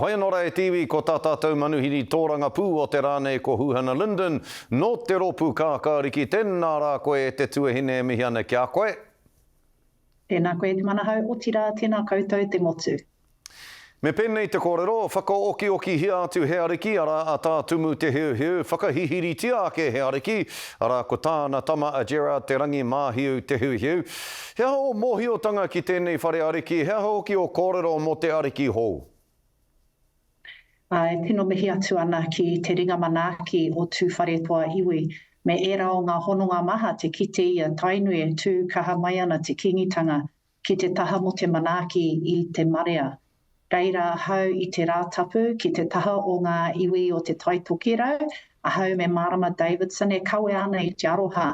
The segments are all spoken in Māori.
Pai anō rā e te iwi ko tā tātou manuhiri tōrangapū o te rā nei ko Huhana Linden nō te rōpū Kākāriki, tēnā rā koe e te tuahine e mihi ana ki a koe. Tēnā koe e te manahau, otirā, tēnā koutou te motu. Me pēnei te kōrero, whakaokiokihia atu he ariki, arā, a Tā Tumu Te Heuheu, whakahihiritia ake he ariki, arā, ko tāna tama a Gerard Te Rangi Māhiu Te Heuheu. He aha ō mōhiotanga ki tēnei whare ariki, he aha hoki ō kōrero mō te ariki hou? E tino mihi atu ana ki te ringa manaaki o Tūwharetoa iwi me ērā o ngā hononga maha te kite ia Tainui e tū kaha mai ana te Kingitanga ki te taha mo te manaaki i te marea. Reira ahau i te Rātapu ki te taha o ngā iwi o te Taitokerau, ahau me Marama Davidson e kawea ana i te aroha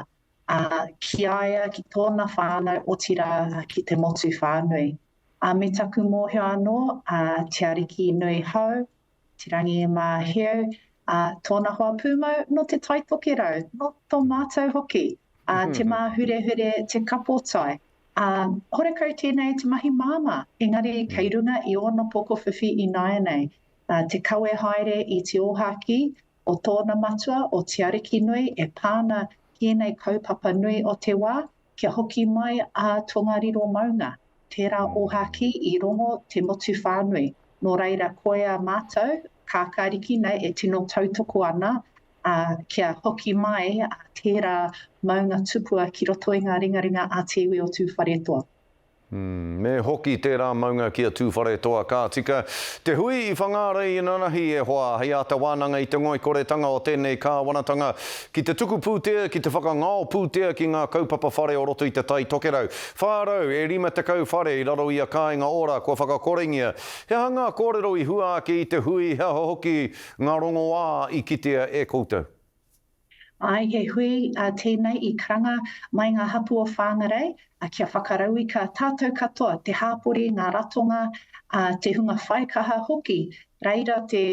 ā, ki a ia, ki tōna whānau, otirā, ki te motu whānui. Ā, me taku mōhio anō, ā, Te Ariki nui hou, Te Rangi Māheu, ā, tōna hoa pūmau nō te Tai Tokerau, nō tō mātou hoki, ā, te māhurehure, te kapotai, ā, horekau tēnei te mahi māmā, engari kei runga i ōna pokowhiwhi ināianei, ā, te kawe haere i te ōhākī, o tōna matua, o Te Arikinui, e pā ana ki ēnei kaupapa nui o te wā, kia hoki mai a Tongariro maunga, tērā ōhākī i rongo te motu whānui. Nō reira, koia mātou, Kākāriki nei e tino tautoko ana, ā, kia hoki mai tērā maunga tupua ki roto i ngā ringaringa a te iwi o Tūwharetoa. Me hoki tērā maunga ki a Tūwharetoa ka tika te hui i Whangārei inanahi e hoa hei āta wānanga i te ngoikoretanga o tēnei kāwanatanga ki te tuku pūtea, ki te whakangao pūtea ki ngā kaupapa whare o roto i te Tai Tokerau. Whā rau e rima tekau whare i raro i a Kāinga Ora kua whakakorengia. He aha ngā kōrero i hua ake i te hui, he aha hoki ngā rongoā i kitea e koutou? Āe, he hui tēnei i karanga mai ngā hapū o Whāngarei kia whakarauika tātou katoa, te hāpori, ngā ratonga, te hunga whaikaha hoki. Reira te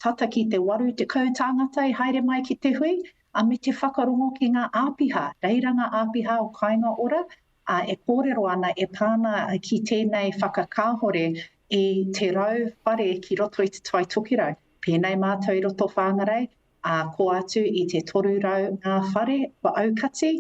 tata ki te 80 tāngata i haere mai ki te hui, ā, me te whakarongo ki ngā āpiha. Reira ngā āpiha o Kāinga Ora e kōrero ana e pā ana ki tēnei whakakāhore i te rau whare ki roto i Te Tai Tokerau. Pēnei mātou i roto Whāngarei, ā, kō atu i te 300 ngā whare kua aukati,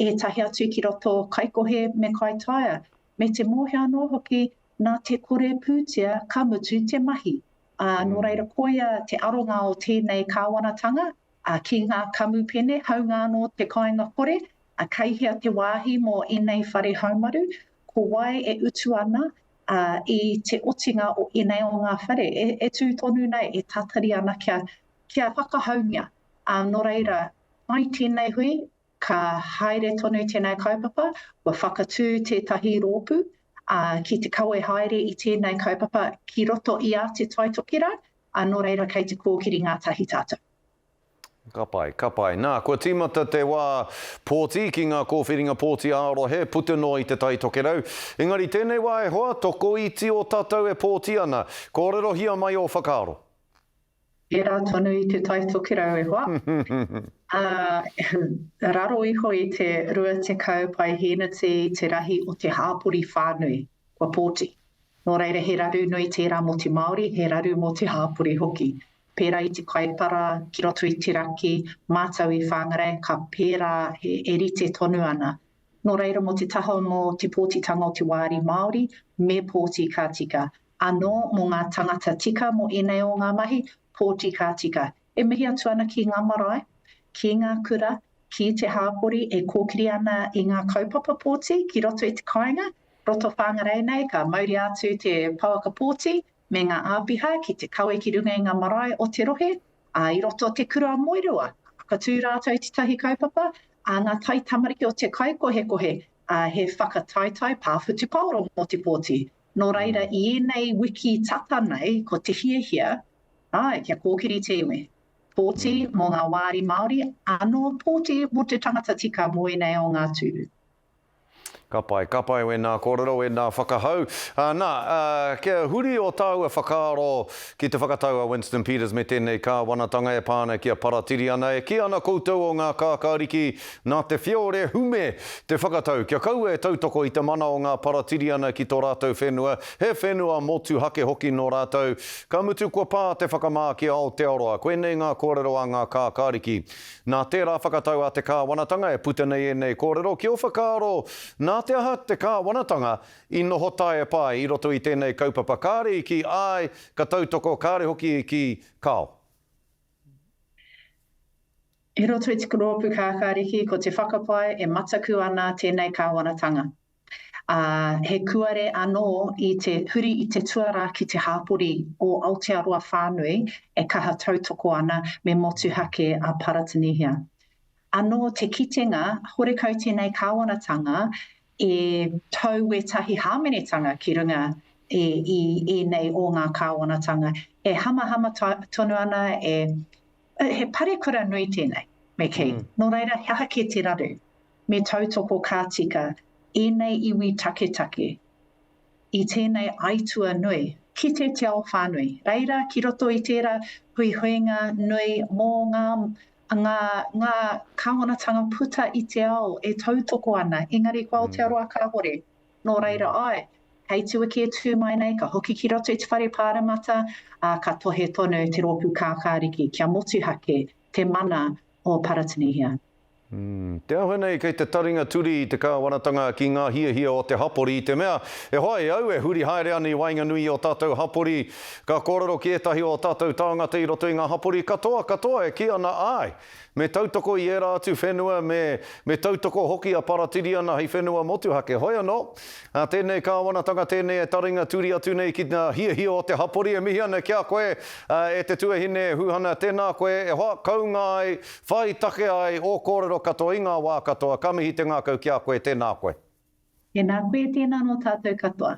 ētahi atu ki roto Kaikohe me Kaitaia, me te mōhio anō hoki nā te kore pūtea ka mutu te mahi. Ā, nō reira koia te aronga o tēnei kāwanatanga ki ngā kamupene, haunga anō te kāinga kore, kei hea te wāhi mō ēnei whare haumaru, ko wai e utu ana i te otinga o ēnei o ngā whare e tū tonu nei, e tātari ana kia kia whakahaungia. Ā, nō reira, mai tēnei hui, ka haere tonu tēnei kaupapa, kua whakatū tētahi rōpū, ā, ki te kawe haere i tēnei kaupapa ki roto i a Te Tai Tokerau, ā, nō reira, kei te kōkiri ngātahi tātou. Ka pai, ka pai. Nā, kua tīmata te wā pōti ki ngā kōwhiringa pōti ā-rohe, puta noa i Te Tai Tokerau. Engari tēnei wā e hoa, tokoiti ō tātou e pōti ana. Kōrerohia mai ō whakaaro. Pērā tonu i Te Tai Tokerau e hoa, ā, raro iho i te 20 paihēneti te rahi o te hāpori whānui, kua pōti. Nō reira he raru nui tērā mō te Māori, he raru mō te hāpori hoki. Pērā i Te Kaipara, ki roto i te raki, mātau i Whangarei, ka pērā e rite tonu ana. Nō reira mō te taha mō te pōtitanga o te wāri Māori, me pōti ka tika, anō mō ngā tangata tika mō ēnei o ngā mahi, pōti ka tika. E mihi atu ana ki ngā marae, ki ngā kura, ki te hāpori e kōkiri ana i ngā kaupapa pōti ki roto i te kāinga, roto Whāngarei nei ka mauria atu te pouaka pōti me ngā āpiha ki te kawe ki runga i ngā marae o te rohe, ā, i roto te kura a Moerewa ka whakatū rātou tētahi kaupapa, ā, ngā taitamariki o te kaikohekohe, ā, he whakataetae pāwhutupaoro mō te pōti. Nō reira, i ēnei wiki tata nei, ko te hiahia, āe, kia kōkiri te iwi. Pōti mō ngā wāri Māori, ānō pōti mō te tangata tika mō ēnei o ngā tūru. Ka pai, ka pai wēnā kōrero, wēnā whakahau. Nā, kia huri ō tāua whakaaro ki te whakatau a Winston Peters me tēnei kāwanatanga e pā ana ki a Paratiriana, e kī ana koutou o ngā kākāriki Nā te whiore hume te whakatau kia kaua e tautoko i te mana o ngā Paratiriana ki tō rātou whenua, he whenua motuhake hoki nō rātou. Ka mutu kua pā te whakamā ki a Aotearoa. Koinei ngā kōrero a ngā kākāriki. Nā tērā whakatau a te kāwanatanga e puta nei ēnei kōrero ki ō whakaaro nā te aha te kāwanatanga i noho taiepa ai i roto i tēnei kaupapa kāre i kī āe ka tautoko kāre hoki i kī kao. I roto i te rōpū Kākāriki, ko te whakapae e mataku ana tēnei kāwanatanga, ā, he kuare anō i te huri i te tuarā ki te hāpori o Aotearoa whānui e kaha tautoko ana me motuhake a Paratanihia. Anō te kitenga, horekau tēnei kāwanatanga e tau ētahi hāmenetanga ki runga i ēnei o ngā kāwanatanga e hamahama tonu ana, he parekura nui tēnei, me kī. Nō reira, he aha kē te raru? Me tautoko ka tika ēnei iwi taketake i tēnei aituā nui ki te Te Ao Whānui. Reira, ki roto i tērā huihuinga nui mō ngā Ngā, ngā kāwanatanga puta i te ao e tautoko ana, engari ko Aotearoa kāore. Nō reira, āe, hei tuaki e tū mai nei, ka hoki ki roto i te whare pāremata, ā, ka tohe tonu te rōpū kākāriki kia motuhake te mana o Paratanihia. Te aha nei kei te taringa turi i te kāwanatanga ki ngā hiahia o te hapori i te mea, e hoa e au e huri haere ana i waenganui i ō tātou hapori, Ka kōrero ki ētahi o ō tātou tāngata i roto i ngā hapori katoa, katoa e kī ana, āe, me tautoko i ērā atu whenua, me, me tautoko hoki a Paratiriana hei whenua motuhake. Hoi anō, ā, tēnei kāwanatanga, tēnei e taringa turi atu nei ki ngā hiahia o te hapori, e mihi ana ki a koe, ā, e te tuahine Huhana, tēnā koe e hoa, kounga ai, whai take ai ō kōrero katoa i ngā wā katoa, ka mihi te ngākau ki a koe, tēnā koe. Tēnā koe, tēnā nō tātou katoa.